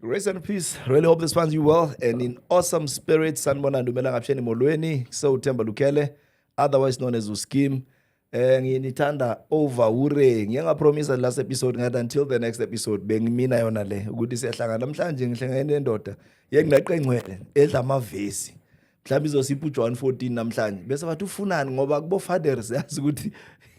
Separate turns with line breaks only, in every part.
Grace and peace. Really hope this finds you well and in awesome spirit. Sanibona Ndumela Ngapsheni Molweni, Sewuthemba Lukhele, otherwise known as Uskim. Eh nginithanda over ure. Ngiye ngapromise last episode ngathi until the next episode bengimina yona le ukuthi siyahlangana namhlanje ngihlangene nendoda yengaqengcwele edla amavesi. mhlawumbe izosipha ujohn 14 namhlanje bese bathi ufunani ngoba kubo-fader siyazi ukuthi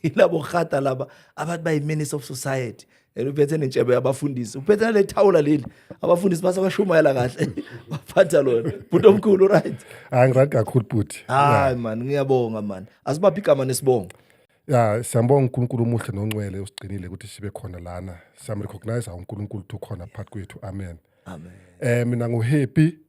ilabo rhata laba abantu bayi-menace of society and uphethe nentshebe yabafundisi uphethe nale thawula leli abafundisi base bashumayela kahle baphatha lona bhuti omkhulu uright hayi ngirayi kakhulu
bhuti hayi mani
ngiyabonga mani asibaphi igama nesibongo ya siyambonga
unkulunkulu omuhle noncwele usigcinile ukuthi sibe khona lana siyamrecognize unkulunkulu ukuthi ukhona phakathi kwethu amen amen um mina nguhappy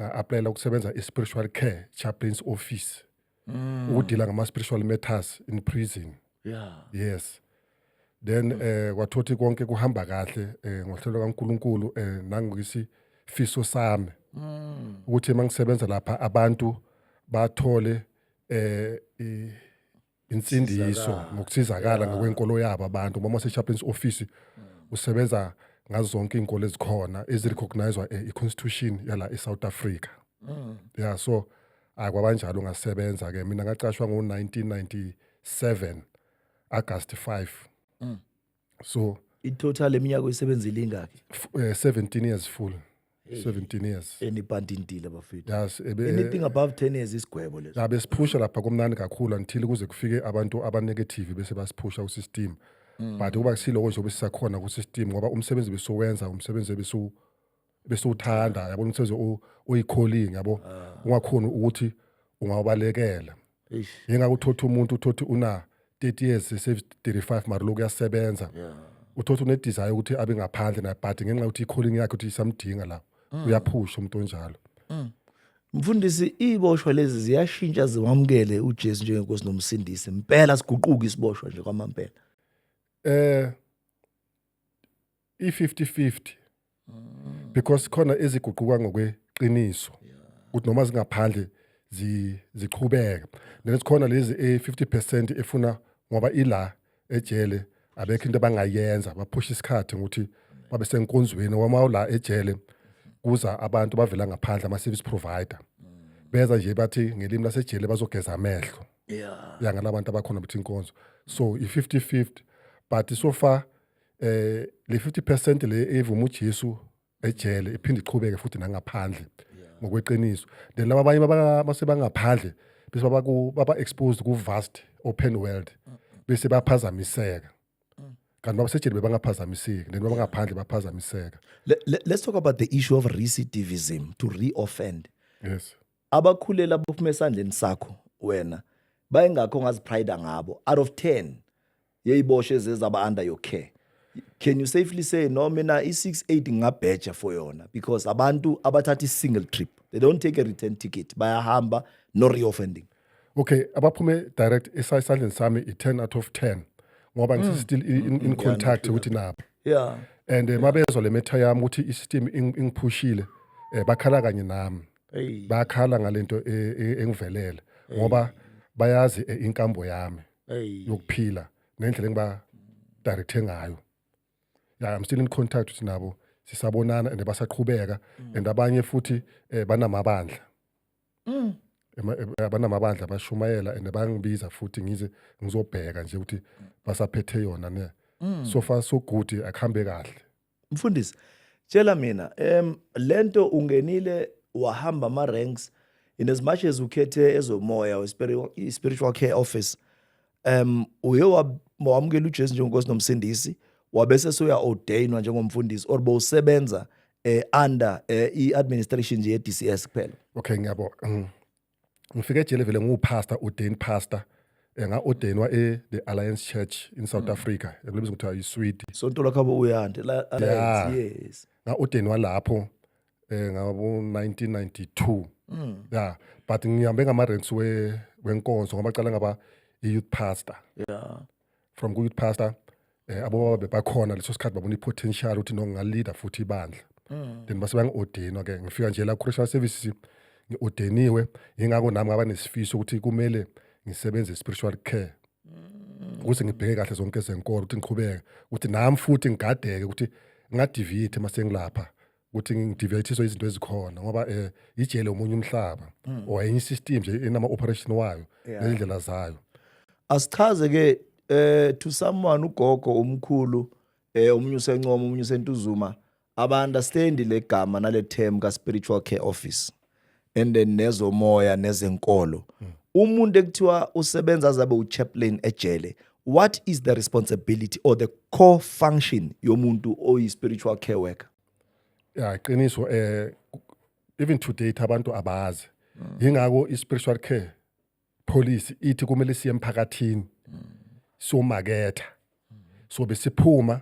nga-aplayela ukusebenza i-spiritual care chaplains office mm. ukudila ngama-spiritual matters in prison yeah. yes then mm. eh kwathothi konke kuhamba kahle eh ngohlelo kaNkuluNkulu eh nangisi fiso sami mm. ukuthi mangisebenza lapha abantu bathole eh insindiso nokusizakala ngokwenkolo yabo abantu ngoba mase-chaplains office usebenza ngazo zonke iy'nkolo ezikhona ezirecognizwa eh, i-constitution yala e-south africa mm. ya so ayi kwabanjalo ngasebenza-ke mina ngacashwa ngo-1997 agasti 5 mm. so in total
eminyaka oyisebenzile ingaki f- eh, 17 years
full 17 years enibhanda intile bafethu
yes ebe anything
above 10
years isigwebo leso la besiphusha lapha komnani
kakhulu until kuze kufike abantu abanegative bese basiphusha usystem but kuba kusiloko nje obesisakhona kusystem ngoba umsebenzi besowenza umsebenzi ebesu bese uthanda yabona umsebenzi o- oyikholingi yabo Ah. ungakhona ukuthi ungawabalekela Eish. yengake uthothe umuntu uthothe una 30 years save 35 mara lokhu uyasebenza Yeah. uthothe unedesire ukuthi abe ngaphandle naye but ngenxa yokuthi ikholingi yakhe ukuthi isamdinga la Mm. uyaphusha umuntu onjalo
Mfundisi iboshwa lezi ziyashintsha ziwamukele uJesu njengenkosi nomsindisi. Impela siguquka isiboshwa nje kwamampela. eh
i-50-50 because khona eziguquka ngokweqiniso ukuthi noma zingaphandle zi- ziqhubeka then sikhona lezi e-50 percent efuna ngoba ila ejele abekho into abangayenza baphusha isikhathi ngokuthi babe senkonzweni wama ula ejele kuza abantu bavela ngaphandle ama-service provider beza nje bathi ngelimi lasejele bazogeza amehlo yeah ya ngalabantu abakhona bethi inkonzo so i-50-50 but so far eh le 50% le evuma uJesu ejele iphinde iqhubeke futhi nangaphandle ngokweqiniso then laba abanye basebangaphandle bese babaku baba exposed ku vast open world bese baphazamiseka kanti babasejele bebangaphazamiseki then babangaphandle baphazamiseka let's talk
about the issue of recidivism to reoffend yes
abakhulela
bophuma esandleni sakho wena bayengakho ngazipride ngabo out of 10 yeyiboshe zezaba under your care can you safely say no mina i68 ngingabheja for yona because abantu abathatha i-single trip they don't take a return ticket bayahamba no reoffending okay abaphume
direct esayisandleni sami i-10 out of 10 ngoba ngisi mm. still in, in, in mm, contact ukuthi nabo yeah and eh, mabezwa le metha yami ukuthi i-system ingiphushile eh, bakhala kanye nami bakhala ngalento eh, engivelele ngoba bayazi inkambo yami yokuphila nendlela engiba directe ngayo yeah i'm still in contact with nabo sisabonana and basaqhubeka mm. and abanye futhi eh, banamabandla mm. Eh, banamabandla bashumayela and bangibiza futhi ngize ngizobheka nje ukuthi basaphethe yona ne mm. so far so good akuhambe kahle Mfundisi,
tshela mina um lento ungenile wahamba ama ranks in as much as ukhethe ezomoya or spiritual, spiritual care office um uye wamukela uJesu njengoNkosi nomsindisi wabese soya ordainwa njengomfundisi or bowusebenza eh under eh, i administration nje ye DCS kuphela. Okay ngiyabo. Mm.
ngifike ejele vele ngiwupastor ordained pastor eh, nga ordainwa e the alliance church in south africa ekulibiza kuthiwa yiswidi sonto lakhabo uyande
la Yeah. alliance yes nga ordainwa lapho
eh ngabo 1992 Mm. yeah but ngihambe ngama ranks we wenkonzo ngoba cala ngaba i youth pastor yeah from ku-youth pastor um abobaba bebakhona leso sikhathi babona i-potential ukuthi no ngingaleader futhi ibandla mm. then base bangi-ordinwa ke ngifika nje la ku-christian services ngi-ordeniwe yingakho nami ngaba nesifiso ukuthi kumele ngisebenze spiritual care mm. ukuthi ngibheke kahle zonke zenkolo ukuthi ngiqhubeke ukuthi nami futhi ngigadeke ukuthi ngingadivithi uma sengilapha ukuthi ngidivethiswe izinto ezikhona ngoba um ijele omunye umhlaba hmm. or enye i-system nje enama-operation wayo nezindlela zayo asichaze-ke
um to someone ugogo umkhulu um omunye usencoma omunye usentuzuma abu-understandi le gama nale term ka-spiritual care office and then nezomoya nezenkolo mm. umuntu ekuthiwa usebenza azabe uchaplain ejele what is the responsibility or the core function yomuntu oyi-spiritual care worker ya
qiniso eh even today abantu abazi mm. yingakho i-spiritual care policy ithi kumele siye emphakathini somaketha so besiphuma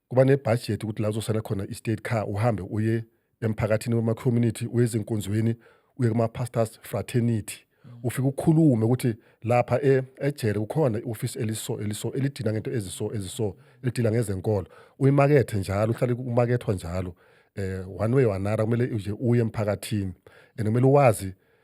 kuba nebudget ukuthi la uzosala khona i-state car uhambe uye emphakathini wema-community uye ezinkonzweni uye kuma-pastors fraternity ufike ukhulume ukuthi lapha e, ejele kukhona i-ofisi eliso eliso elidina ngento eziso eziso elidila ngezenkolo uyimakethe njalo uhlale umakethwa njalo eh one way or another kumele nje uye emphakathini and kumele uwazi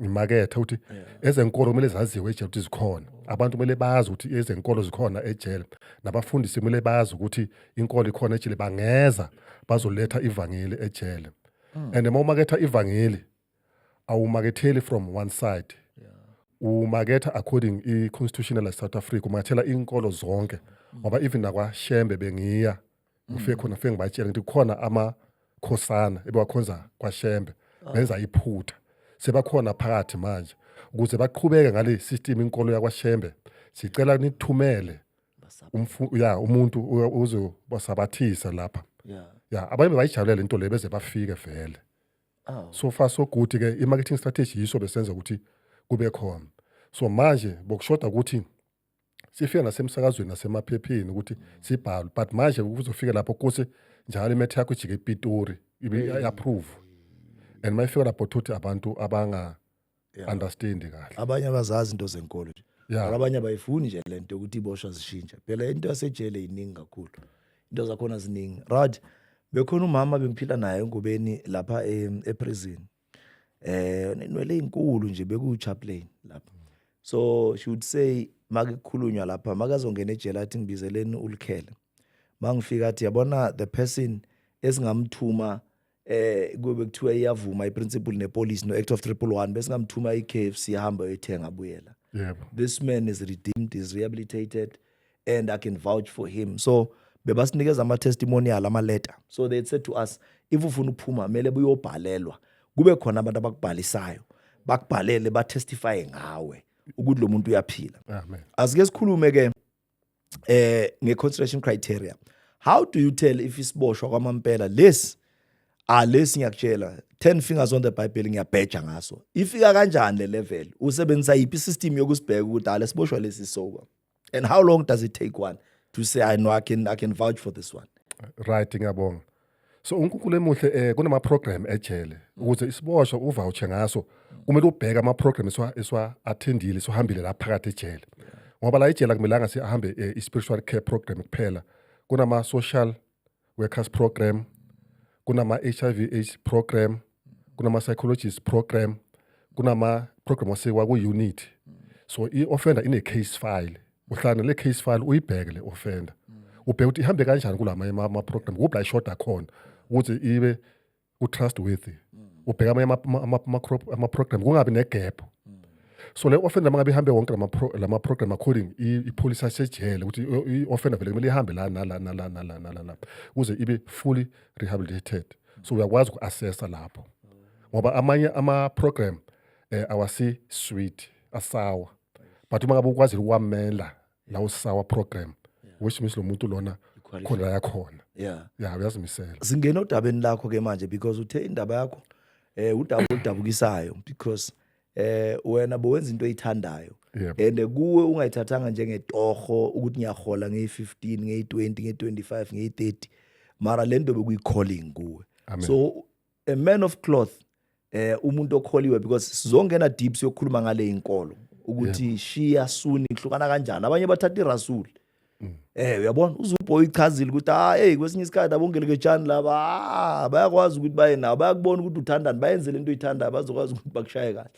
ngimakethe ukuthi ezenkolo kumele zaziwe ejele ukuthi zikhona abantu kumele bazi ukuthi ezenkolo zikhona ejele nabafundisi kumele bazi ukuthi inkolo ikhona ejele bangeza bazoletha ivangeli ejele hmm. and uma umaketha ivangeli awumaketheli from one side umaketha according i-constitutional south africa umakethela inkolo zonke ngoba even nakwashembe bengiya ngifike khona fike ngibatshela ngithi kukhona amakhosana ebewakhonza kwashembe benza iphutha sebakhona phakathi manje ukuze baqhubeke ngale system inkolo yakwashembe sicela nithumele umfu- ya umuntu u- uzobasabathisa lapha Yeah. ya abanye bayijabulele into le beze bafike vele Oh. so far so good ke i-marketing strategy yiso besenza ukuthi kube khona so manje bokushoda ukuthi sifika nasemsakazweni nasemaphepheni ukuthi sibhalwe but manje kuzofika lapho kuse njalo imethe yakho ijike epitori i-approve and uma ifika lapho thuthi abantu abanga understand kahle abanye abazazi into
zenkolo nje Yeah. Mara abanye abayifuni nje le nto yokuthi iboshwa zishintshe phela into yasejele yiningi kakhulu into zakhona ziningi right bekhona umama bengiphila naye engubeni lapha em- eprison eh nenwele ezinkulu nje beku chaplain lapha so she would say makukhulunywa lapha makazongena ejele athi ngibizeleni ulikhele mangifika athi yabona the person esingamthuma eh kube kuthiwa iyavuma iprinciple nepolice no act of 311 bese ngamthuma iKFC ihamba yothenga buyela yebo this man is redeemed is rehabilitated and i can vouch for him so bebasinikeza ama-testimonial amaleta so they said to us if ufuna ukuphuma kumele buyobhalelwa kube khona abantu abakubhalisayo bakubhalele batestifye ngawe ukuthi lo muntu uyaphila asike
sikhulume ke
eh nge-consideration criteria how do you tell if isiboshwa kwamampela lesi alesi ngiyakutshela 10 fingers on the bible ngiyabheja ngaso ifika kanjani le level usebenzisa yiphi system yokusibheka ukuthi alesiboshwa lesi soka and how long does it take one to say i know i can, I can vouch for this one right ngiyabonga
so uNkulunkulu emuhle eh kunama program ejele ukuze isiboshwa uvoucher ngaso kumele ubheke ama program eswa eswa attendile sohambile la phakathi ejele ngoba la ejele akumelanga sihambe eh, i spiritual care program kuphela kunama social workers program kunama-hiv aids program kunama-psychologist program kunama-program asekwa ku-unit so i-offender ine-case file uhlala le case file uyibheke le offender ubheke ukuthi ihambe kanjani kulama ama-program kuphi la ishoda khona ukuthi ibe utrust worthy mm. ubheka amanye ama-program kungabi negap mm. so le offender mangabe ihambe wonke lama program according ipolicy yasejele ukuthi i-offender vele kumele ihambe la nala nala nala nala la kuze ibe fully rehabilitated so uyakwazi uku-assessa lapho ngoba amanye ama-program um eh, awasi-sweet asawa but uma ngabe ukwazile ukwamela lawo sawa program which means lo muntu lona Qualified. khona la yakhona yeah ya
uyazimisela singena odabeni
lakho
ke manje because uthe
indaba
yakho eh udaba oludabukisayo because eh wena bowenza into oyithandayo Yebo. and kuwe ungayithathanga njengetoho ukuthi ngiyahola ngeyi15 ngeyi20 ngeyi25 ngeyi30 mara lento bekuyi calling kuwe Amen. so
a man
of cloth eh umuntu okholiwe because sizongena deep siyokhuluma ngale inkolo ukuthi shiya suni ihlukana kanjani abanye bathatha irasul mm. eh uyabona uzuboy ichazile ukuthi ah hey kwesinye isikhathi abongelekejani laba ah, bayakwazi ukuthi baye nawo bayakubona ukuthi uthandani bayenze lento oyithandayo bazokwazi ukuthi bakushaye kahle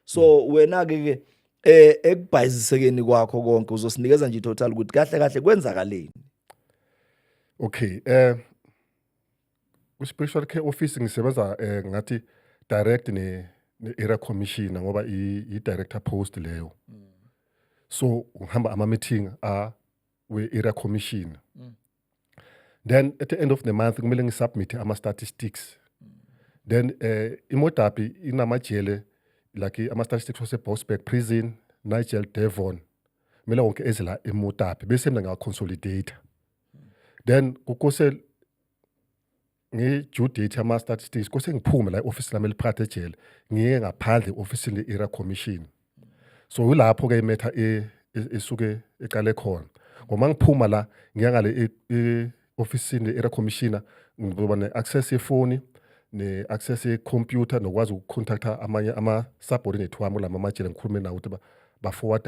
so mm. wena ke ke eh ekubhayizisekeni kwakho konke uzosinikeza nje total ukuthi kahle kahle kwenzakaleni
okay eh Kwi-special care office ngisebenza eh, ngathi direct ne ne-area commissioner ngoba i- i-director post leyo so ngihamba ama-meeting a we-area commissioner then at the end of the month kumele ngisubmithe ama-statistics then eh imodapi inamajele like ama-statistics wasebosberg prison nigel devon kumele wonke ezela emodapi bese mina ngiyaconsolidata then kukose ngi-due date ama-statistics kose ngiphume la i-ofisi lami eliphathe ejele ngiye ngaphandle i-ofisini le-era commission so yilapho-ke imetha e, e, esuke eqale khona ngoma ngiphuma la ngiya ngale e-ofisini le-era commissioner ngizoba ne-access yefoni ne-access yekhompyutha nokwazi ukucontacta amanye ama-subordinate wami kulama amajele ngikhulume nawo ukuthi baforward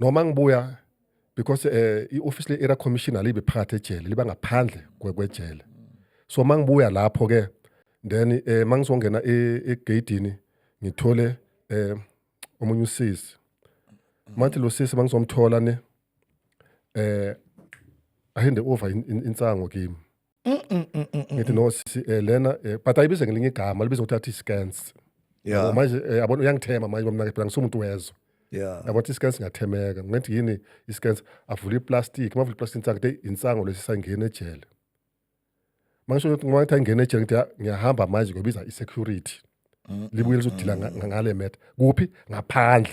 noma ngibuya because eh ioffice le era commissioner libe phakathi ejele liba ngaphandle kwejele so mangibuya lapho ke then eh mangizongena e, egate ngithole eh omunye usisi mathi lo sisi mangizomthola ne eh ahinde over insango kimi ngithi no sisi eh, lena eh, but ayibize ngelinye igama libize ukuthi athi scans Yeah. Yabo, manje
eh, yabona uyangithema
manje bamnake phela ngisumuntu wezwe Yeah. yabo athi scans
ngathemeka
ngithi yini i-scans avule iplastic mavula iplastic insango te insango lesi sangena ejele mangisho ukuthi ngoba ngithi angena ejele ngithi "Ah, ngiyahamba manje ngobiza i-security libuye lizodila nga- nga- ngale matter kuphi ngaphandle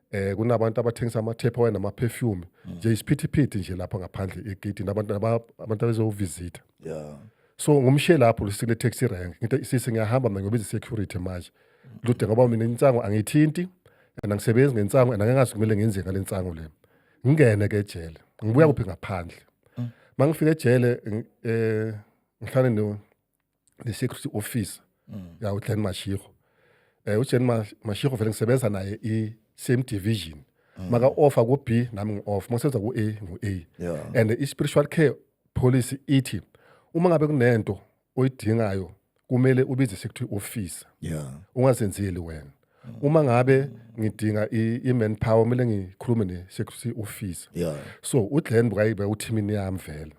eh kunabantu abathengisa amathepha wena namaperfume mm. nje isiphithiphithi nje lapha ngaphandle egate nabantu abantu abezovisita yeah
so ngumshe
lapho lusile taxi rank ngithi sisi ngiyahamba mina ngobiza security manje mm. lude ngoba mina insango angithinti and angisebenzi ngensango and angengazi kumele ngenze ngale nsango le ngingene ke ejele ngibuya mm. kuphi ngaphandle mangifika ejele eh ngihlale no the security officer mm. ya uJen Mashiko eh uJen Mashiko vele ngisebenza naye i same division mm. maka offer ku B nami ngi off mosenza ku A ngu A yeah. and i
spiritual care
policy ithi uma ngabe kunento oyidingayo kumele ubize security officer yeah ungazenzeli
wena
uma ngabe ngidinga i-man power kumele ngikhulume ne-security officer yeah. so
uglen
bukayibe uthimini yami vele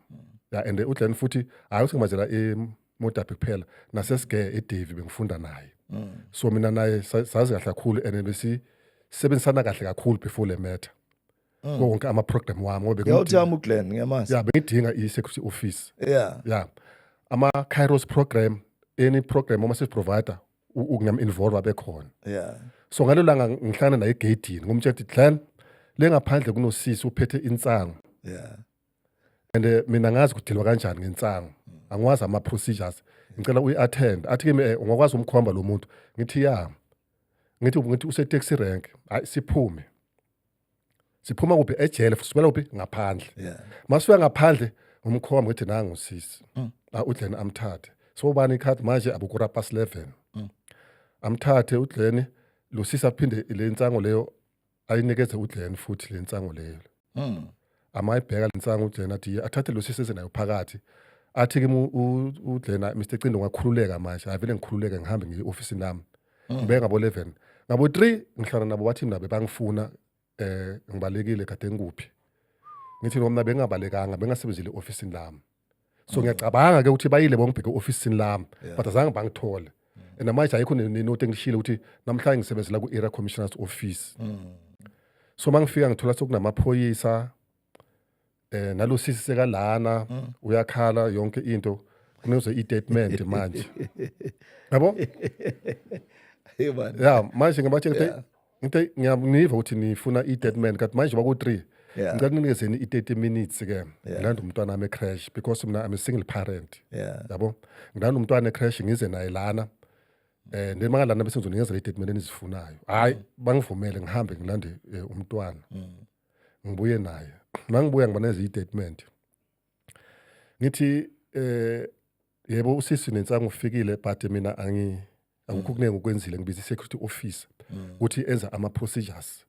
ya and uglen futhi hhayi ukuthi ngimazela emodabhi kuphela nasesige edavi bengifunda naye mm. so mina naye sazi kahle kakhulu and besisebenzisana kahle kakhulu before le matter mm. konke ama-program wami ngobeyawuthami uglen ngiyamazi
ya bengidinga i-security
office ya yeah. ya yeah. ama-kairos program any program uma sesiprovider ukungam involve abekhona yeah so ngalo
langa
ngihlangana naye egedini ngomtshela ukuthi Glenn lengaphandle kunosisi uphethe insangu yeah
and
eh, mina ngazi kudilwa kanjani ngensangu angiwazi ama procedures ngicela uyi attend athi kimi eh, ungakwazi umkhomba lo muntu ngithi ya ngithi ngithi use taxi rank hayi siphume siphuma kuphi ejele sisukela kuphi ngaphandle yeah. masuya
ngaphandle
umkhomba ukuthi nangu usisi mm. udleni amthathe so ubani ikhadi manje abukura pas 11 mm. amthathe udleni losisi aphinde le nsango leyo ayinikeze udleni futhi le nsango leyo mm. amayibheka lensangu uJena athi athathe lo sisi esenayo phakathi athi kimi uJena Mr Cindo ngakhululeka manje avele ngikhululeke ngihambe ngiye office nami mm. ngibe ngabo 11 ngabo 3 ngihlala nabo bathi mina bebangifuna eh ngibalekile kade ngikuphi ngithi noma bengabalekanga bengasebenzile office lami so ngiyacabanga ke ukuthi bayile bongibheke ofisini lami but azange bangithole and manje ayikho nenote engishile ukuthi namhlanje ngisebenzela ku-area commissioners office so uma ngifika ngithola sokunamaphoyisa eh nalo sisi sekalana uyakhala yonke into kunoze i-statement manje yabo ya manje ngibatshela ukuthi Okay, ngiyaniva ukuthi nifuna i-dead man kanti manje baku-three Yeah. ngicela kunikezeni i-30 minutes ke Yeah. ngilanda umntwana wami ecrash because mina i'm a single parent Yeah. yabo ngilanda umntwana ecrash ngize naye lana um then mangalana bese ngizonikezela i-date mina enizifunayo hhayi bangivumele ngihambe ngilande um umntwana ngibuye naye mangibuya ngibaneza i-statement ngithi um yebo usisi nensangu ufikile but mina angi akukho mm. kuningi okwenzile ngibiza i-security officer mm. ukuthi enza ama-procedures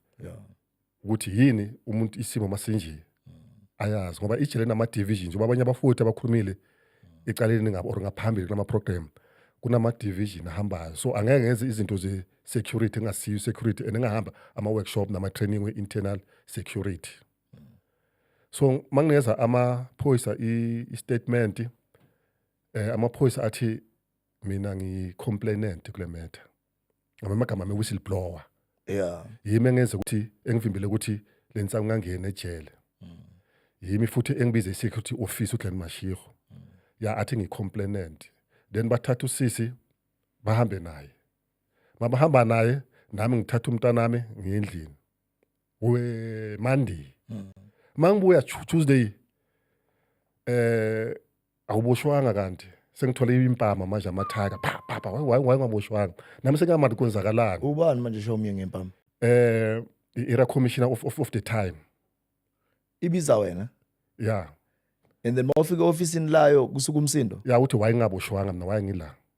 ukuthi yini umuntu isimo masinje mm. ayazi ngoba ijele nama-division njengoba abanye abafuthi abakhulumile ecaleni ngabo or ngaphambili kulama-program kunama-division ahambayo so angeke ngenze izinto ze-security engasiyo i-security and engahamba ama-workshop nama-training we-internal security so mangineza amaphoyisa i-statement eh amaphoyisa athi mina ngicomplainant kule matter ngama amagama ame whistleblower yeah yimi engenza ukuthi engivimbele ukuthi le nsangu ngangena ejele yimi futhi engibize i-security office uGlen Mashiro ya athi ngicomplainant then bathatha usisi bahambe naye mabahamba naye nami ngithatha umntanami ngiyendlini we monday mm. mangibuya tuesday eh awuboshwanga kanti sengithole impama manje amathaka pha pha pha wayengaboshwanga nami sengamati kwenzakalani ubani manje show me
ngempama eh
era commissioner of, of, of the time
ibiza wena yeah
and then
mawufika office layo kusuka umsindo ya uthi wayengaboshwanga
mina wayengila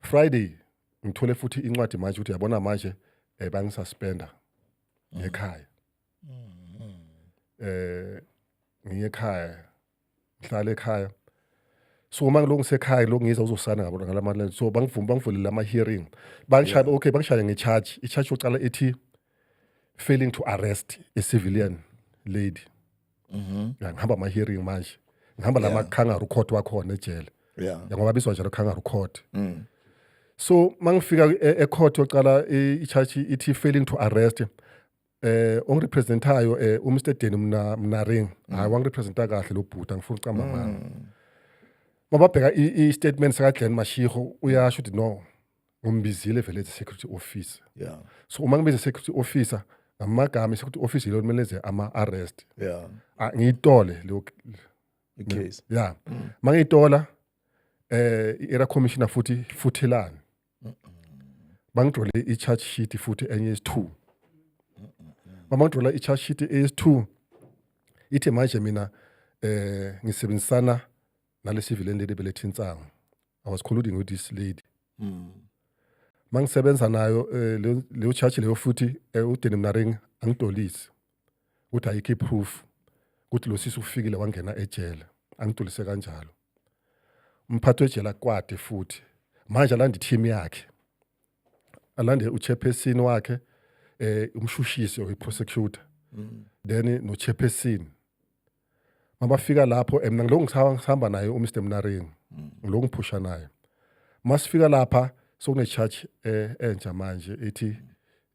Friday ngithole futhi incwadi manje ukuthi yabona manje eh bangisuspenda ngekhaya. Eh ngiye ekhaya. Ngihlale ekhaya. So uma ngiloko ngisekhaya lo ngiza uzosana ngabona ngalamali so bangivuma bangivulele ama hearing. Bangishaya okay bangishaya nge charge. I charge yocala ethi failing to arrest a civilian lady. Mhm. Ya, ngihamba ama hearing manje ngihamba lama kangaroo court wakhona ejele Yeah. Mm. ya ngoba biswa njalo kangaroo court so mangifika e- e court yocala i i charge ithi failing to arrest eh ongirepresentayo eh u Mr Deni mna mnaring Mm. hayi wangirepresenta kahle lo bhuti angifuni uqamba mama mababheka i i statement saka Glen Mashiho uyasho ukuthi no ngombizile vele as a security officer yeah so uma ngibiza security officer ngamagama security officer yilo kumele ze ama arrest yeah ah, ngiyitole leyo case
yeah mm.
mangiyitola eh era commissioner futhi futhelani bangidrole i charge sheet futhi enye is2 bamangidrola i charge sheet is2 ithe manje mina eh ngisebenzisana nale civil and lady beletha insangu i was colluding with this lady mm. mangisebenza nayo eh, leyo- leyo charge leyo futhi eh, udeni mnaring angidolisi ukuthi ayikho i-proof ukuthi lo sisi ufikile wangena ejele angidolise kanjalo umphathi wejele akwade futhi manje alande i-team yakhe alande uchairperson wakhe eh umshushisi oyi-prosecutor then nochairperson mabafika lapho and mina ngilokhu ngisaba- ngisihamba naye umr mnaring ngilokhu ngiphusha naye uma sifika lapha sokune-charge eh, entsha manje ithi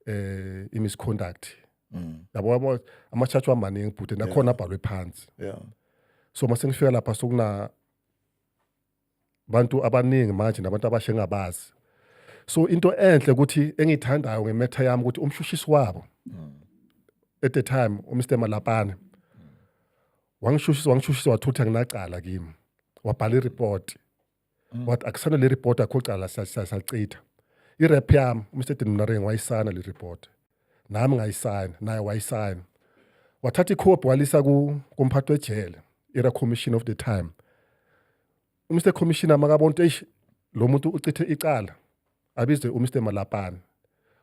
eh, i-misconduct Mm. yabo yabo ama-charge wamaningi bhuti nakhona abhalwe phansi Yeah. so uma sengifika lapha sokuna abantu abaningi manje nabantu abasha engabazi so into enhle ukuthi engiyithandayo ngemetha yami ukuthi umshushisi wabo at the time uMr Malapane wangishushisa wangishushisa wathutha nginacala kimi wabhala ireport mm. wathi akusana le report akho cala sacitha irep yami uMr Dinmnaring wayisana le report nami ngayisayina naye wayisayina wathatha ikhophi walisa kumphathi wejele era commission of the time umr commissioner makabona ukuthi eish lo muntu ucithe icala abizwe umr malapane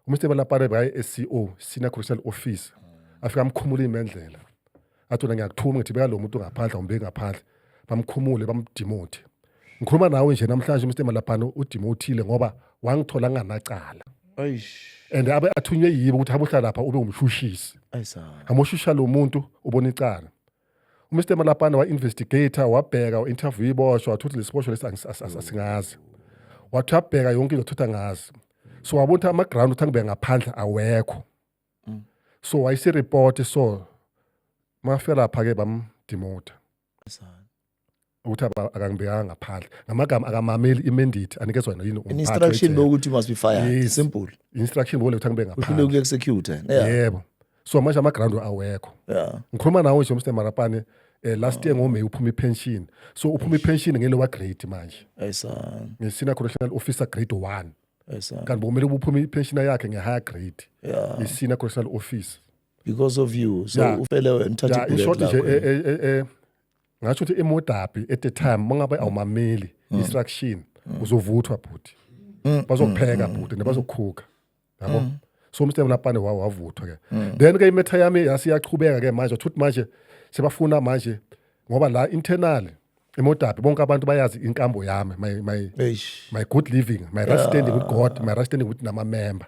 umr malapane bekaye-sco senior correctional officer afika amkhumula imendlela athi wena ngiyakuthuma ngithi beka lo muntu ngaphandle umbeki ngaphandle bamkhumule bamdimote ngikhuluma nawe nje namhlanje mr malabhano udimothile ngoba wangithola nganacala and abe athunywe yibo ukuthi hamba uhlala lapha ube umshushisi hamba ushusha lo muntu ubona icala umr malabhana wa-investigator wabheka u-interview iboshwa wathuthi lesiboshwa lesi asingazi wathi uyabheka yonke into thutha ngazi so wabona ukuthi ama-ground ukuthi angibeka ngaphandle awekho mm. so wayisireport so mafika lapha ke bamdimota ukuthi akangibekanga ngaphandle ngamagama akamameli imendate anikezwa yena yini instruction bokuthi
must be fired yes. simple instruction bole ukuthi angibe
ngaphandle uhlule ukuexecute yeah.
yebo
so manje ama ground awekho yeah ngikhuluma nawe nje Mr Marapane eh, last year ngoMay uphuma ipension so uphuma ipension ngelo wa grade manje ayisana ngisina correctional officer grade 1 kanti bokumele ubuphume ipenshina yakhe nge-higher grade isina correctional office because of you
so yeah. ufele wena uthathe yeah, ishort nje eh, eh,
eh, eh, ngasho ukuthi emodabi at the time mangabe awumameli mm. instruction mm. uzovuthwa bhuti mm. bazokupheka mm. bhuti nebazokukhuka yabo mm. so mr mlapane wawo wavuthwa ke mm. then ke imetha yami yasiyaqhubeka ke manje uthuthi manje sebafuna manje ngoba la internal imodabi bonke abantu bayazi inkambo yami my my Eish. my good living my right standing with god my right standing with namamember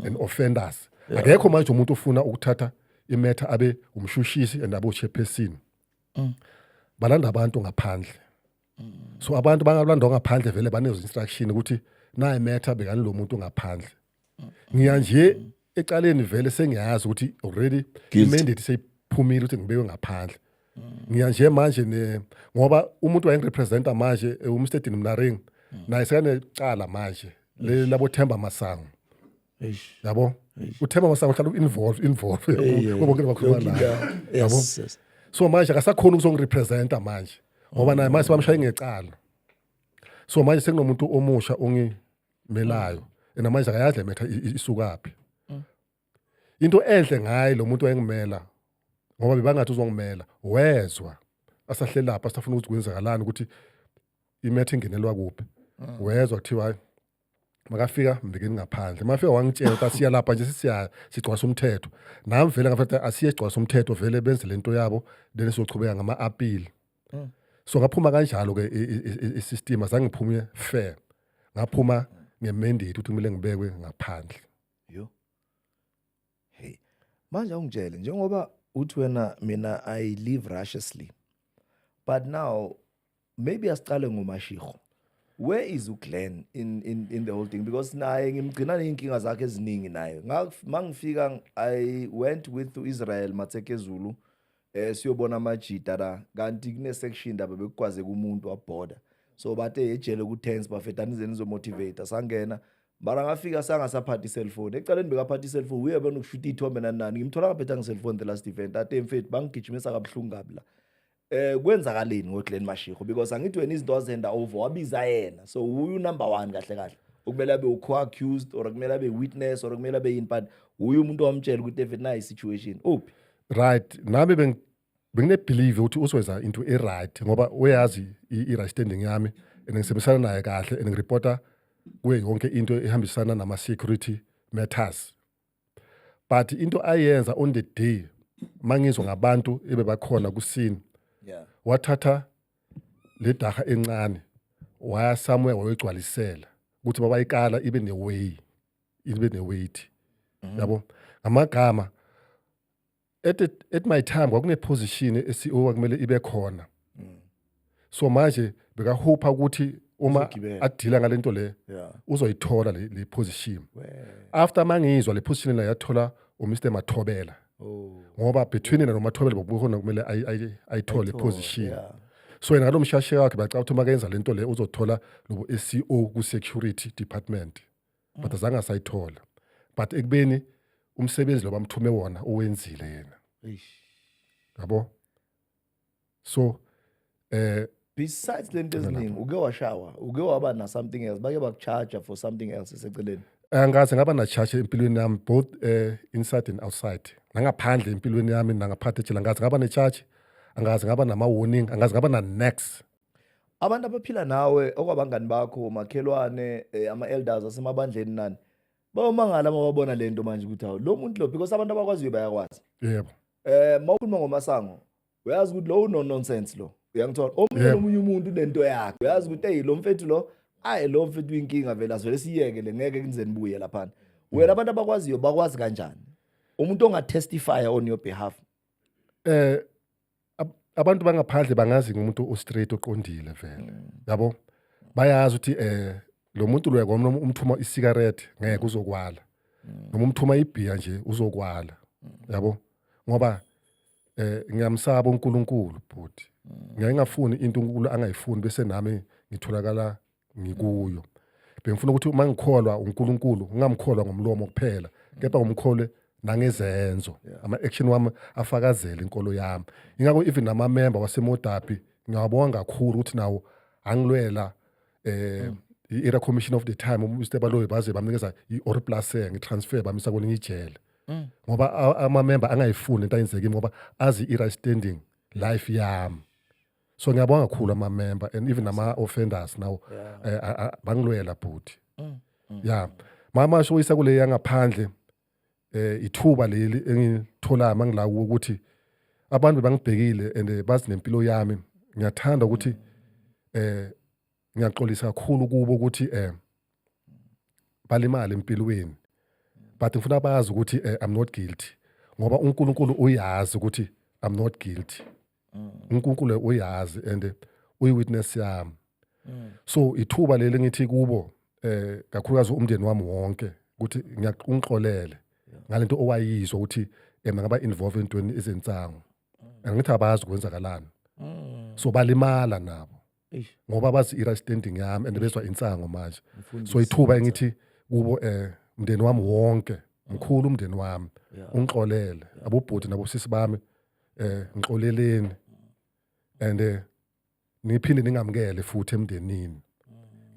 and offenders akekho manje umuntu ofuna ukuthatha imetha abe umshushisi and abe uchairperson balanda abantu ngaphandle so abantu bangalandwa ngaphandle vele banezo instruction ukuthi naye metha bekani lo muntu ngaphandle ngiya nje ecaleni vele sengiyazi ukuthi already Guilty. imandate seyiphumile ukuthi ngibekwe ngaphandle ngiya nje manje ne ngoba umuntu wayengirepresenta manje eh, uMr Dean Mnaring naye sekanecala manje le labo Themba Masango Eish. yabo uthemba masango uhlala u-involve involve Ey, ey, bonke bakhuluma yonke naye indawo. yabo Yes, yes. so manje akasakhona ukuzongirepresenta manje ngoba naye manje sebamshaye ngecala so manje sekunomuntu omusha ongi melayo mm. and manje akayazi le metha isukaphi mm. into enhle ngaye lo muntu wayengimela ngoba bebangathi uzongimela wezwa asahlelapha asafuna ukuthi kwenzakalani ukuthi imetha ingenelwa kuphi mm. wezwa kuthiwa makafika mbekeni ngaphandle mafika wangitshela ukuthi asiya lapha nje sisiya sigcwasa umthetho nami vele ngafetha asiye sigcwasa umthetho vele benze lento yabo then sizochubeka ngama-apile mm. so ngaphuma kanjalo ke isystem azange ngiphume fair ngaphuma ngemendate ukuthi kumele ngibekwe ngaphandle yo
hey manje ungitshele njengoba uthi wena mina i live righteously but now maybe asiqale ngomashiko where is uGlenn in in in the whole thing because naye ngimgcina nezinkinga zakhe eziningi naye mangifika i went with uIsrael Matsekezulu eh siyobona amajita la kanti kune section ndaba bekugwaze kumuntu wabhoda so bathe ejele ku tense bafetha nize nizo motivate sangena mara ngafika sangasaphathi cellphone ecaleni bekaphathi cellphone uye bona ukushuta ithombe nani nani ngimthola ngaphetha nge cellphone the last event ate mfethu bangigijimisa kabuhlungu kabi la eh kwenzakaleni ngoGlen Mashiko because angithi wena izinto azenda over wabiza yena so uyu number 1 kahle kahle okumele abe ukho accused or kumele abe witness or kumele abe yini but uyu umuntu owamtshela ukuthi efethu nayi situation uphi right nami
beng benginebelieve ukuthi usiwenza into e-right ngoba uyazi i-right standing yami and ngisebenzisana naye kahle and ngireporta kuye yonke into ehambisana nama-security matters but into ayenza on the day mangizwa ngabantu ebebakhona kusini yeah. wathatha le daha encane waya somewhere wayogcwalisela ukuthi babayikala ibe neway ibe ne-weight mhm. yabo ngamagama at, at my time kwakuneposition e-ceo kwakumele ibe khona mm. so manje bekahupha ukuthi uma adila ngale nto le uzoyithola le position after mangizwa le position la yathola umr mathobela oh. ngoba between yena nomathobela bokukhona kumele ayithole position so yena ngalo mshashe wakhe bacaba ukuthi uma kenza le nto le uzothola lobo-sco ku-security department but azange asayithola but ekubeni umsebenzi lo bamthume wona owenzile yena Eish. yabo so eh
besides lento eziningi uke washawa uke waba na something else bake bakucharger for something else eseceleni angase ngaba na
charge empilweni yami both eh inside and outside nangaphandle empilweni yami nangaphathe ejele angazi ngaba ne charge angazi ngaba nama warning angazi ngaba na next abantu
abaphila nawe okwabangani bakho makhelwane eh, ama-elders asemabandleni nani bayomangala uma babona le nto manje ukuthi hawu lo muntu lo because abantu abakwaziyo bayakwazi yebo eh
mawukhuluma
ngomasango uyazi ukuthi lo uno nonsense lo uyangithola omunye Yebo. omunye umuntu unento yakhe uyazi ukuthi hey lo mfethu lo ayi lo mfethu uyinkinga vele asivele siyeke le ngeke kunizeni buye laphana wena abantu abakwaziyo bakwazi kanjani umuntu ongatestifya on your behalf eh
abantu bangaphandle bangazi ngomuntu ostraight oqondile vele mm. yabo bayazi ukuthi eh lo muntu lo yakwami noma umthuma isigarette ngeke uzokwala mm. noma umthuma ibhiya nje uzokwala mm. yabo ngoba eh ngiyamsaba uNkulunkulu bhuti ngeke ngafuni into uNkulunkulu angayifuni bese nami ngitholakala ngikuyo bengifuna ukuthi uma ngikholwa uNkulunkulu ngingamkholwa ngomlomo kuphela kepha ngomkholwe nangezenzo ama-action wami afakazele inkolo yami ingakho even namamemba wasemodapi ngiyawabonga kakhulu ukuthi nawo angilwela um i-era commission of the time umr baloyi baze bamnikeza i-or plase ngitransfer bamisa kwelinye ijele mm. ngoba amamemba angayifuni into ayenzekimi ngoba azi i-right standing life yami so ngiyabonga kakhulu ama member and even ama offenders now eh, a- a- bangilwela bhuti ya mama sho isa kule yangaphandle eh ithuba leli engitholayo mangila kuwo ukuthi abantu bangibhekile and eh, bazi nempilo yami ngiyathanda ukuthi eh ngiyaxolisa kakhulu kubo ukuthi eh balimale empilweni but ngifuna bazi ukuthi eh, i'm not guilty ngoba uNkulunkulu uyazi ukuthi i'm not guilty mm. uNkulunkulu uyazi and uyi witness yami mm. so ithuba leli ngithi kubo eh kakhulukazi umndeni wami wonke ukuthi ngiyaqunxolele ngalento owayizwa ukuthi ema ngaba involved entweni izinsango mm. angithi abazi kwenzakalani so balimala nabo ngoba bazi i-right standing yami and bezwa insango manje so ithuba engithi kubo eh umndeni wami wonke mkhulu umndeni wami ungixolele abobhuti nabosisi bami eh ngixoleleni and eh, niphinde ningamukele futhi emndenini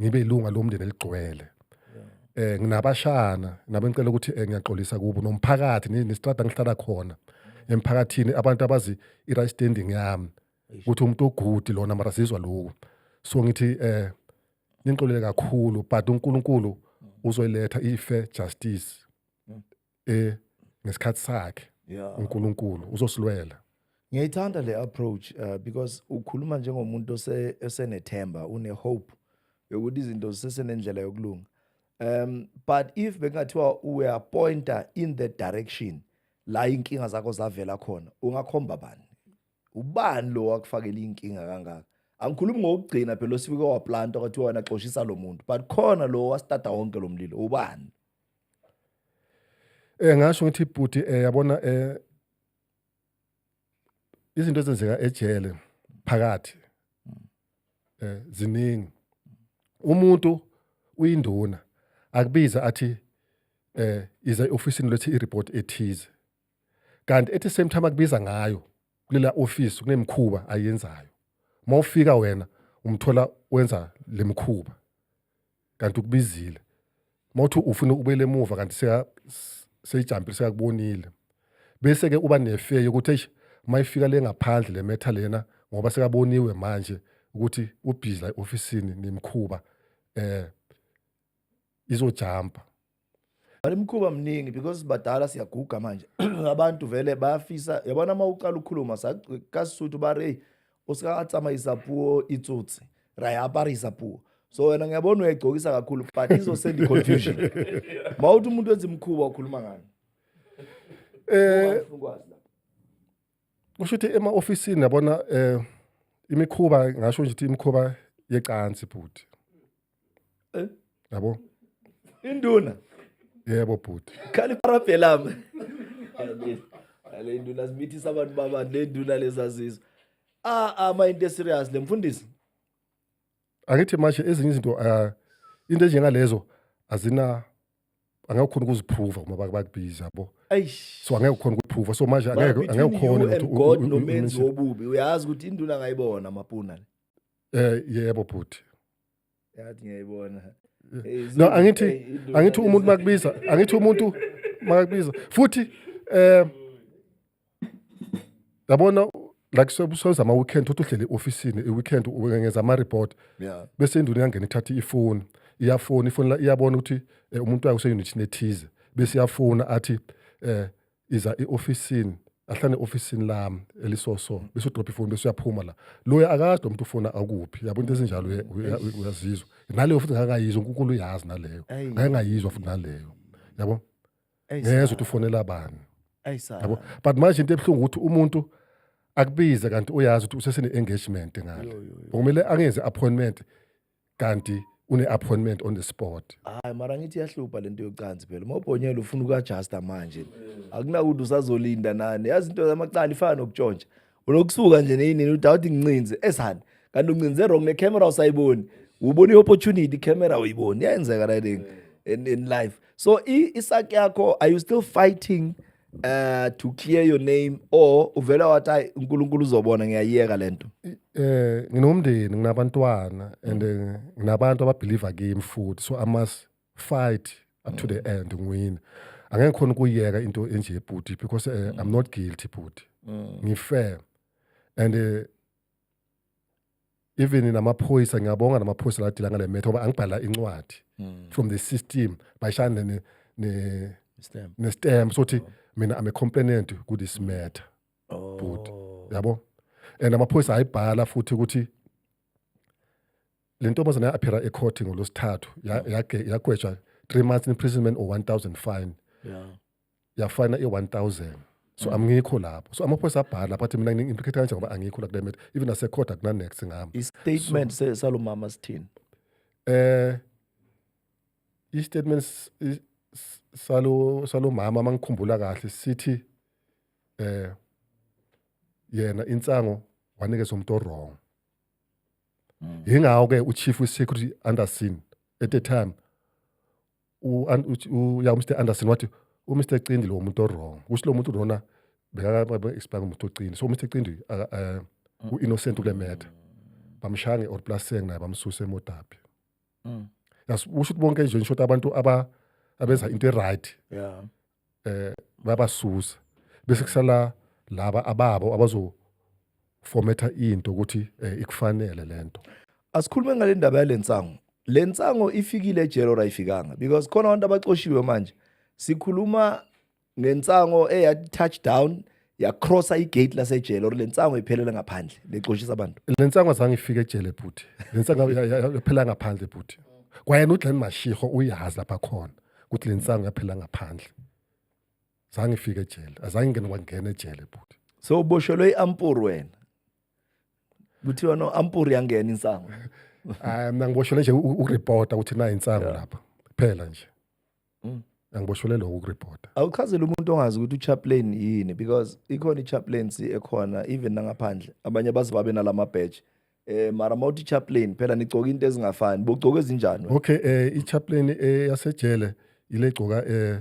ngibe ilunga lomndeni eligcwele eh nginabashana nabe ngicela ukuthi eh, ngiyaxolisa kubo nomphakathi nestrada ngihlala khona emphakathini abantu abazi i-right standing yami ukuthi umuntu ogudi lona mara sizwa lokhu so ngithi eh ningixolele kakhulu but uNkulunkulu uzoyiletha ife justice mm. eh ngesikhathi sakhe uNkulunkulu uzosilwela ngiyayithanda le
approach uh, because ukhuluma njengomuntu ose esenethemba une hope yokuthi izinto zisesenendlela yokulunga um but if bekungathiwa we are pointer in the direction la inkinga zakho zavela khona ungakhomba bani ubani lo wakufakela inkinga kangaka angikhulumi ngokugcina phela osifike waplanta kwathi wena xoshisa lo muntu but khona lo wasitata wonke lo mlilo ubani
eh ngasho ngithi bhuti eh yabona eh izinto ezenzeka ejele phakathi eh ziningi umuntu uyinduna akubiza athi eh iza ofisini lethi ireport ethize kanti at the same time akubiza ngayo kulela office kunemkhuba ayenzayo uma ufika wena umthola wenza lemkhuba kanti ukubizile mawuthi ufuna ubele emuva kanti seka seyijampile sekakubonile bese ke uba nefeyo ukuthi eish mayifika le ngaphandle le metha lena ngoba sekaboniwe manje ukuthi ubhizi la ofisini nemkhuba eh izojampa
Imkhuba mningi because badala siyaguga manje abantu vele bayafisa yabona uma uqala ukukhuluma kasisuthu ba re o se ka tsamaisa puo e tsotse ra e aparisa puo so wena ngiyabona uyayigcokisa kakhulu but izosenda i-confusion ma uthi umuntu wenza imikhuba ukhuluma ngani eh
kusho ukuthi ema-ofisini yabona um imikhuba ngasho nje ukuthi imikhuba yecansi bhuti eh? yabo induna
yebo
bhuti khali parabhelama
le nduna zimithisa abantu babani le nduna lezazizwa ah ah ma into serious le mfundisi
angithi manje ezinye izinto uh, into enjengalezo azina angeke ukhona ukuziphruva uma bakubiza yabo so angeke ukhona ukuphruva so manje angeke angeke ukhone ukuthi God nomenzi
wobubi uyazi ukuthi induna ngayibona mapuna eh
yebo bhuti yathi
ngiyayibona no
angithi angithi umuntu makubiza angithi umuntu makakubiza futhi eh yabona like sobusoza ama weekend uthi uhlele officeini i weekend ngenza ama report yeah bese induna
iyangena ithatha
ifoni iyafona ifoni iyabona ukuthi eh, umuntu wayo useunit nethize bese iyafona athi eh iza eofisini ahlane ofisini lami elisoso bese udrop ifoni bese uyaphuma la loya akade umuntu ufona akuphi yabo into ezinjalo uyazizwa naleyo futhi ngakayizwa uNkulunkulu uyazi naleyo ngayengayizwa futhi naleyo yabo ngezwe ukuthi ufonela bani yabo but manje into ebuhlungu ukuthi umuntu akubize kanti uyazi ukuthi usesene engagement ngale kumele angenze appointment kanti une-appointment on the spot hayi mara ngithi
iyahlupha lento yocansi phela uma ubhonyela ufuna ukuadjusta manje akunakuthi usazolinda nani yazi into zamacala ifana nokutshontsha unokusuka nje neyinini uthi awuthi ngincinze esani kanti uncinze wrong necamera usayiboni ubona i-opportunity icamera uyiboni iyayenzeka writing in, in life so i- isaki yakho are you still fighting uh to clear your name or uvela wathi hayi uNkulunkulu uzobona ngiyayeka lento eh nginomndeni
nginabantwana and eh, nginabantu ababelieve kimi futhi so i must fight up to the mm. end ngiwina angeke khona ukuyeka into enje bhuti because uh, i'm mm. not guilty bhuti mm. ngifair and uh, even namaphoyisa ngiyabonga namaphoyisa ladila ngale metho ngoba angibhala incwadi hmm. from the system bayishane ne ne stamp ne stamp sothi oh. mina i'm a complainant ku this matter oh. but yabo and amaphoyisa ayibhala futhi ukuthi le ntombazana ya-aphera ecourt ngolwesithathu yagwetshwa three months imprisonment or one thousand fine yeah. yafana i-1000 so mm. angikho lapho so amaphoyisa abhala lapho athi mina ngi-implicate kanje ngoba angikho la kule matter even nasecourt akunanext ngami i-statement so,
salo mama sithini eh
i-statement salo salo mama mangikhumbula kahle sithi eh yena insango wanikeza umuntu wrong mm. yingawo ke uchief we security Anderson at the time u, an- uthi- u, ya umr anderson wathi umr cindi lo muntu owrong kusho lo muntu lona bekakaexpanga umuntu ocindi so umr cindi aka- eh, u-innocent kule matter bamshaya nge-or plus seng naye bamsuse emodabi Mm. yas usho ukuthi bonke nje ngisho ukuthi abantu aba abenza into e-right Yeah. eh babasusa bese kusala laba ababo abazo formatha into ukuthi eh, ikufanele lento asikhulume ngale
ndaba yale nsango le nsango ifikile ejele or ayifikanga because khona abantu abacoshiwe manje sikhuluma ngensango eya touchdown yacrossa igate lasejele or le nsango iphelela ngaphandle lexoshisa abantu le nsango azange ifike
ejele bhuti le nsango yaphela ngaphandle bhuti kwayena uglen mashiho uyazi lapha khona ukuthi le nsango yaphela ngaphandle zange ifike ejele azange ingene wangena ejele bhuti so uboshelwe
i-ampur wena kuthiwa no ampur yangena insango hayi mna
ngiboshelwe nje ukuripota ukuthi nayo insango lapha kuphela nje Mm. angiboshelelwa ukukuripota awuchazele umuntu ongazi
ukuthi uchaplain yini because ikhona ichaplaincy ekhona even nangaphandle abanye abazi babe nalama badge eh mara mawuthi chaplain phela nigcoka into ezingafani bogcoka ezinjani wena? okay eh ichaplain
eh, yasejele ile gcoka eh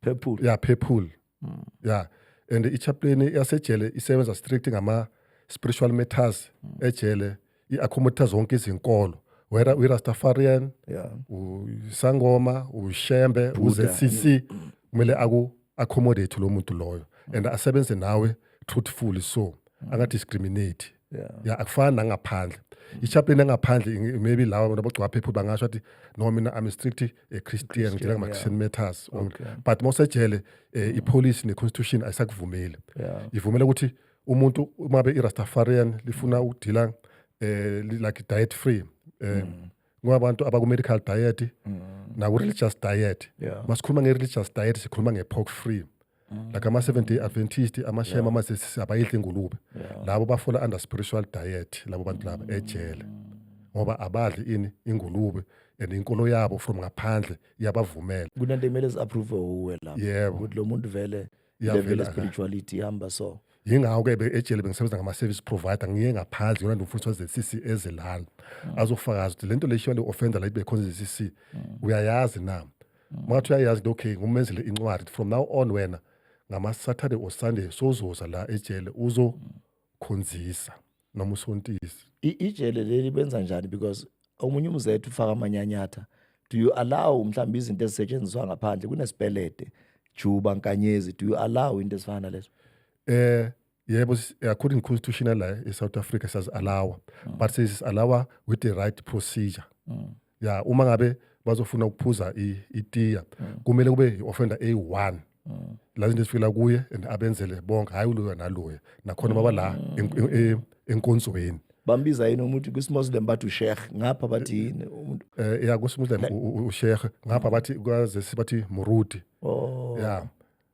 purple ya purple
mm. ya and ichaplain yasejele isebenza strict ngama spiritual matters mm. ejele i-accommodate zonke izinkolo whether uyi-rastafarian yeah. usangoma ushembe u-zcc mm. kumele aku-accommodate lo muntu loyo and asebenze nawe truthfully so angadiscriminate ya akufani nangaphandle i-chaplain engaphandle maybe lawa nabogcwaphephu bangasho athi no mina i'm strict a christian ngidela ngama-christian matters onke but mawusejele um eh, mm. ipolice ne-constitution ayisakuvumeli ivumela ukuthi umuntu uma be i-rastafarian lifuna ukudila um eh, like diet free um eh, mm. kwabantu abaku-medical diet mm. naku-religious diet masikhuluma nge-religious diet sikhuluma nge-pork free Mm. like ama seventh day adventist amashema ama abayidla ingulube labo bafola under spiritual diet labo bantu laba ejele ngoba abadli ini ingulube and inkolo yabo from ngaphandle iyabavumela kunento ekumele si-approve
uwe lapho Yebo. ukuthi lo muntu vele Iyavela level ka- spirituality ihamba so yingakho ke be- ejele
bengisebenza ngama-service provider ngiye ngaphandle yona ndimfundisi waze-cc ezilala azofakaza ukuthi le nto le shiwa le-offender la ibe khona ze-cc uyayazi na Mwathi uyayazi into okay ngumenzele incwadi from now on wena ngama Saturday or Sunday sozoza la ejele uzo khonzisa noma usontisi. Ijele leli
benza njani because omunye umzethu ufaka amanyanyatha do you allow mhlawumbe izinto ezisetshenziswa ngaphandle kunesipelede juba nkanyezi do you allow into ezifana nalezo eh yebo
eh, according constitutional la eh, e-south africa siyazi-alawa mm. but sesizi-alawa with the right procedure mm. ya uma ngabe bazofuna ukuphuza itiya mm. kumele kube i-offender eyi-one mm. la zinto ezifikela kuye and abenzele bonke hhayi uloya naloya nakhona baba la mm. enkonzweni bambiza
yini umuntu kwisimuslim bathi usheikh ngapha bathi eh, yini umuntu eh ya kwisimuslim
usheikh ngapha bathi kwazesi bathi murudi oh ya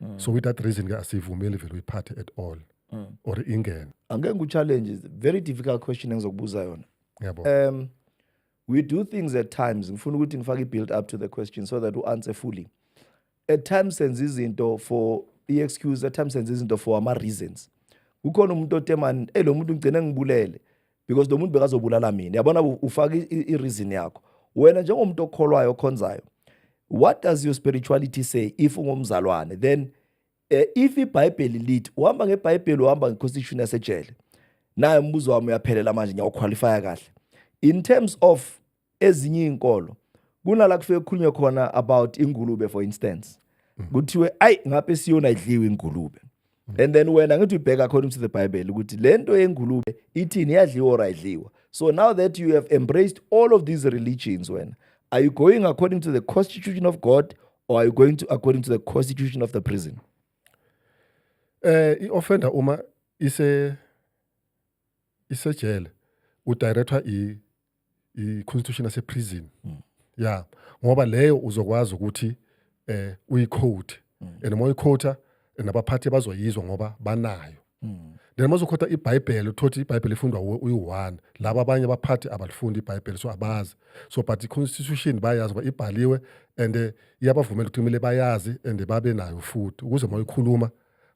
mm. so with that reason ke asivumeli vele uyiphathe at all mm. or ingene angeke ngu-challenge
very difficult question engizokubuza yona yabo um
we
do things at times ngifuna ukuthi ngifake i-build up to the question so that u-answer fully at times senza izinto for i-excuse at times senza izinto for ama-reasons kukhona umuntu otemani ey lo muntu ngigcine ngibulele because lo muntu bekazobulala mina yabona ufaka i-reason yakho wena njengomuntu okholwayo okhonzayo what does your spirituality say if ungumzalwane then eh, if ibhayibheli lithi uhamba ngebhayibheli uhamba ngeconstitution yasejele naye umbuzo wami uyaphelela manje ngiyawuqualifya kahle in terms of ezinye izinkolo kunala kufike kukhulunywe khona about ingulube for instance mm. kuthiwe ayi ngabe siyona idliwe ingulube mm. and then wena ngithi ubheka according to the bible ukuthi lento yengulube ithini yadliwa or ayidliwa so now that you have embraced all of these religions wena are you going according to the constitution of god or are you going to according to the constitution of the prison eh
i-offender uma ise isejele udirector i i constitution yase prison mm. yeah ngoba leyo uzokwazi ukuthi eh uyiquote mm. and uma uyiquota nabaphathi bazoyizwa ngoba banayo mm. then uma uzokhotha ibhayibheli uthothi ibhayibheli ifundwa uyi-one laba abanye abaphathi abalifundi ibhayibheli so abazi so but i-constitution bayazi uba ibhaliwe and eh, iyabavumela ukuthi kumele bayazi and babe nayo futhi ukuze uma uyikhuluma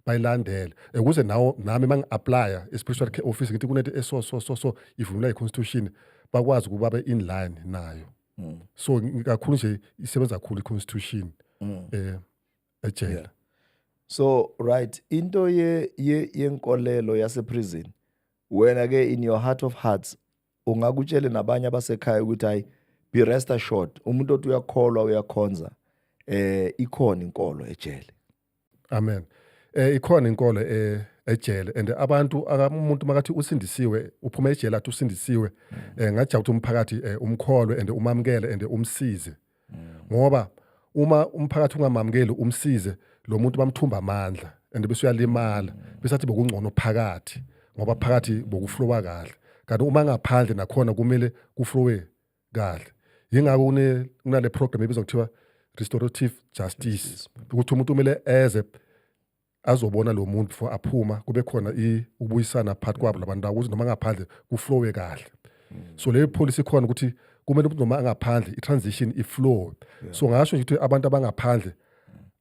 bayilandele ukuze nawo nami uma ngi-aplya i-spiritual care office ngithi kunento eso so so so ivunula i-constitution bakwazi ukuba be-in line nayo mm. so kakhulu nje isebenza kakhulu i-constitution mm. eh ejele yeah.
so right into ye yenkolelo yase prison wena ke in your heart of hearts ungakutshele nabanye abasekhaya ukuthi hayi be rest assured umuntu othi uyakholwa uyakhonza eh ikhona inkolo ejele amen
eh ikhona inkolo eh ejele and abantu umuntu makathi usindisiwe uphuma ejele athi usindisiwe mm. eh ngajabula ukuthi umphakathi eh, umkholwe and umamukele and umsize mm. ngoba uma umphakathi ungamamukeli umsize lo muntu bamthumba amandla and bese uyalimala mm. bese athi bokungcono phakathi ngoba phakathi bokuflowa kahle kanti uma ngaphandle nakhona kumele kuflowe kahle yingakho kune kunale program ebizwa kuthiwa restorative justice ukuthi umuntu umele eze azobona lo muntu before aphuma kube khona ukubuyisana phakathi kwabo labantu ukuthi noma ngaphandle kuflowe kahle so le policy ikhona ukuthi kumele umuntu noma angaphandle i-transition iflowe so ngasho nje ukuthi abantu abangaphandle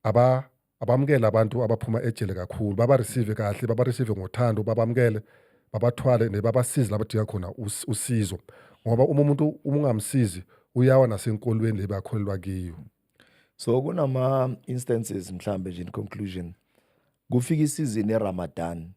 aba abamukele abantu abaphuma ejele kakhulu babareceive kahle babareceive ngothando babamukele babathwale nebabasize labadinga khona usizo ngoba uma umuntu uma ungamsizi uyawa nasenkolweni le bakholelwa kiyo so
kunama instances mhlambe nje in conclusion kufika isizini eRamadan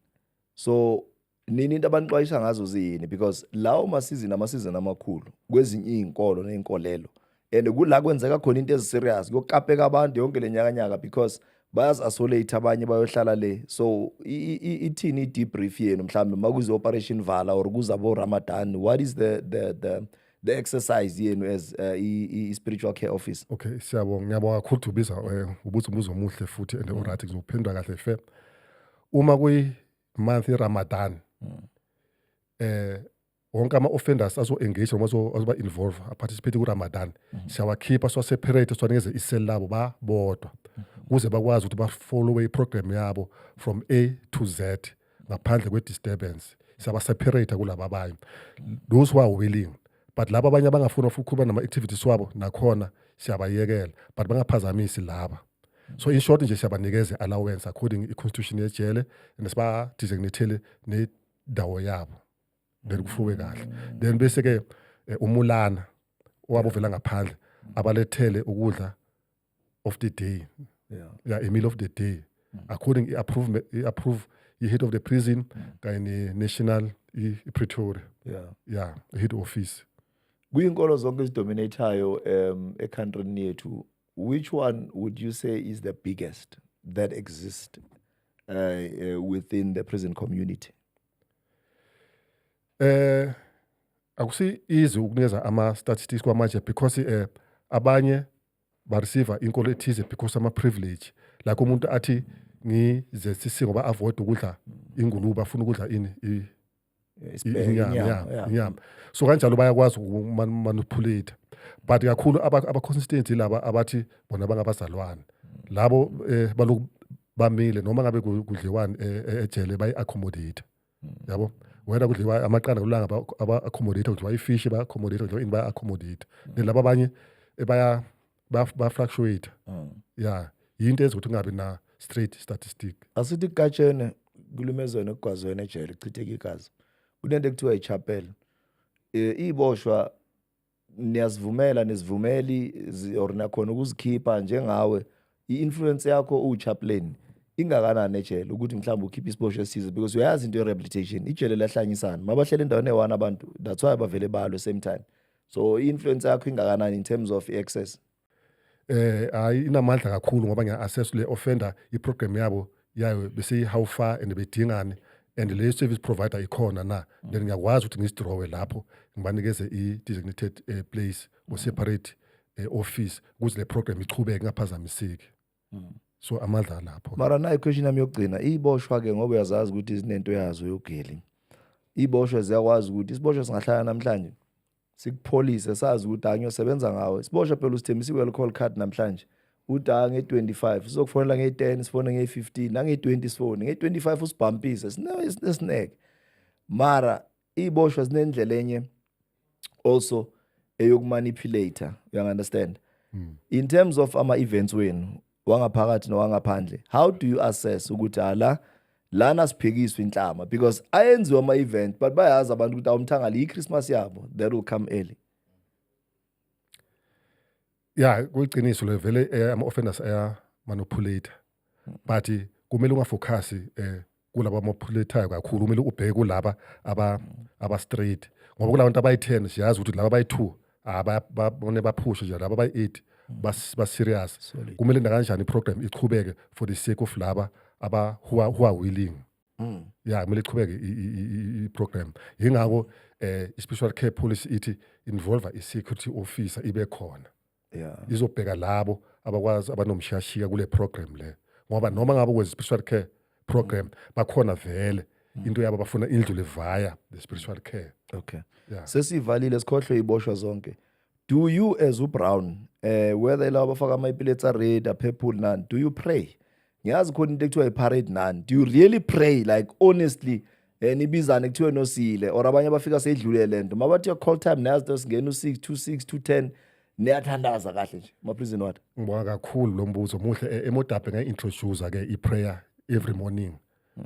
so nini into abanixwayisa ngazo ziyini because lawo masizini amasizini amakhulu kwezinye iy'nkolo ney'nkolelo and kula kwenzeka khona into eziserious kuyokapeka abantu yonke le nyakanyaka because bayazi-asolate abanye bayohlala le so ithini i-debrief yenu mhlawumbe uma kuze-operation vala or kuza bo-ramadan what is the, the, the the exercise yenu as uh, i-spiritual care office okay siyabonga ngiyabonga
kakhulu dubiza um eh, ubuza umbuzo omuhle futhi and mm. oryt ngizokuphendula kahle fe uma kuyi month iRamadan mm. eh wonke ama offenders azo engage noma azoba involve a participate ku Ramadan mm -hmm. siyawakhipha so separate siwanikeze isel labo ba bodwa mm -hmm. kuze bakwazi ukuthi ba follow i program yabo from A to Z ngaphandle kwe disturbance siyaba separate kulaba abanye those who are willing but laba abanye abangafuni ukukhuluma nama activities wabo nakhona siyabayekela but bangaphazamisi laba so in short nje siyabanikeza allowance according i-constitution yejele and siba-designathele nendawo yabo then kufuwe kahle then bese-ke eh, umulana owabo vela ngaphandle abalethele ukudla of the day yeah. yeah, a meal of the day mm. according i-approve i-approve i-head of the prison mm. kanye ne-national i-pretoria yeah. yeah, head office kuyinkolo
zonke ezidominathayo um ekhantrini yethu Which one would you say is the biggest that exists uh, uh, within the prison community? Eh
akusi easy ukunikeza ama statistics kwamanje because eh abanye ba receive inkolo ethize because ama privilege like umuntu athi ngizesisi ngoba avoid ukudla ingulube afuna ukudla ini inyama so kanjalo bayakwazi ukumanipulate but kakhulu aba-consistency laba abathi bona bangabazalwane labo um baloku bamile noma ngabe kudliwani eh, eh, ejele bayi-accommodate hmm. yabo wena kudliwa amaqanda kulanga aba-accommodate kudliwa ifishi ba-accommodate kudliwa ini ba-accommodate hmm. nelaba abanye baya ba fluctuate mm. yeah yinto ezokuthi ungabi na straight statistic asithi katshene
kulumezweni okugwazweni ejele chitheke igazi kunento ekuthiwa ichapel e, iboshwa niyazivumela nizivumeli or nakhona ukuzikhipha njengawe i-influence yakho uwuchaplain ingakanani ejele ukuthi mhlawumbe ukhiphe isibosho esize because uyayazi into ye-rehabilitation ijele lahlanyisana mabahlele endaweni eyi-one abantu that's why bavele balwe same time so i-influence yakho ingakanani in terms of i-access eh
hayi inamandla kakhulu ngoba ngiya-assess le offender i-program yabo yayo besiyi-how far and bedingane and leyo service provider ikhona na then ngiyakwazi ukuthi ngizidrowe lapho ngibanikeze i-designated eh, place or separate eh, office ukuze le program ichubeke ingaphazamiseki so amadla lapho mara nayo question yami
yokugcina iboshwa ke ngoba uyazazi ukuthi izinento yazo yogeli iboshwa ziyakwazi ukuthi isiboshwa singahlala namhlanje sikupholise sazi ukuthi angiyosebenza ngawe isiboshwa phela usithembisa i-well call card namhlanje uthi a nge-25 sizokufonela nge-10 sifone nge-15 nange-20 sifone nge-25 usibhampise sineke mara iy'boshwa zinendlela enye also eyokumanipulator you understand mm. in terms of ama events wenu wangaphakathi nowangaphandle how do you assess ukuthi ala ah, lana siphikiswa inhlama because ayenziwa ama event but bayazi abantu ukuthi awumthangala i Christmas yabo that will come early
ya kuyiqiniso le vele eh, ama offenders aya manipulate but kumele ungafocus eh kulabo amophuletayo kakhulu kumele ubheke kulaba aba aba straight ngoba kulabantu abayi-10 siyazi ukuthi laba abayi-2 abone baphushe nje laba abayi-8 baserious Solid. kumele nakanjani iprogram iqhubeke for the sake of laba aba who are, who are willing mm. ya kumele iqhubeke i-program yingako um eh, i-special care policy ithi involve i-security officer ibe khona yeah. izobheka labo abakwazi abanomshiyashiya kule program le ngoba noma ngabe kwenza i-special care program mm. bakhona vele mm. into yabo bafuna indlu levaya the spiritual care okay yeah.
sesivalile sikhohlwe iboshwa zonke do you as ubrown eh whether laba bafaka ama-epiletsa red aphephule nani do you pray ngiyazi khona into ekuthiwa i-parade nani do you really pray like honestly um eh, nibizane kuthiwe nosile or abanye abafika seyidlule le nto mabathiwa call time niyazi to singena u-six two six two ten niyathandaza kahle nje maphrizini wathi ngibonga kakhulu lo
mbuzo muhle e-, emodabhe ngayi-introduce-ke i-prayer every morning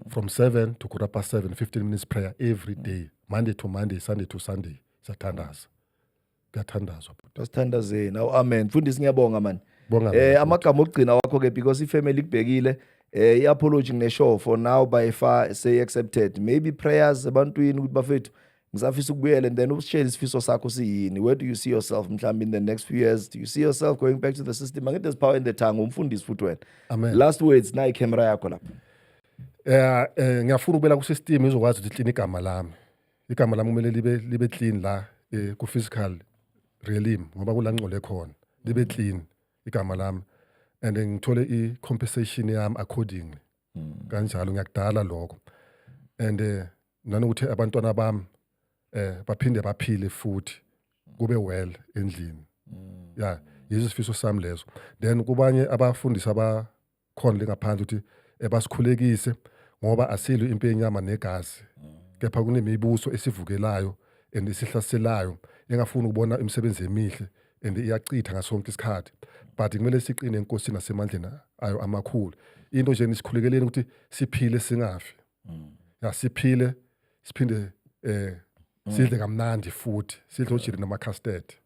from 7 to quarter past 7 15 minutes prayer every day monday to monday sunday to sunday siyathandaza kuyathandazwa bhuti asithandazeni
awu amen mfundisi ngiyabonga mani Bonga eh mina, amagama okugcina wakho ke because ifamily ikubhekile eh iapology ngineshow for now by far say accepted maybe prayers ebantwini ukuthi bafethu ngisafisa ukubuyela and then usitshele isifiso sakho siyini where do you see yourself mhlawumbe in the next few years do you see yourself going back to the system angithi there's power in the tongue umfundisi futhi wena Amen. last words
nayi camera
yakho lapha Eh eh, ngiyafuna
ukubela ku system izokwazi ukuthi line igama lami igama lami kumele libe libe clean la eh, ku physical realm ngoba kula ngcole khona libe clean igama lami and ngithole i compensation yami accordingly kanjalo ngiyakudala lokho and eh, nanokuthi abantwana bami eh baphinde baphile futhi kube well endlini ya yizo isifiso sami lezo then kubanye abafundisi aba khona lingaphandle ukuthi ebasikhulekise ngoba asilo impi yenyama negazi kepha kunemibuso esivukelayo and esihlaselayo engafuni ukubona imisebenzi emihle and iyachitha ngasonke isikhathi but kumele siqine enkosini nasemandleni ayo amakhulu into nje nisikhulekeleni ukuthi siphile singafi ya siphile siphinde eh sidle kamnandi futhi sidle ojiri nama custard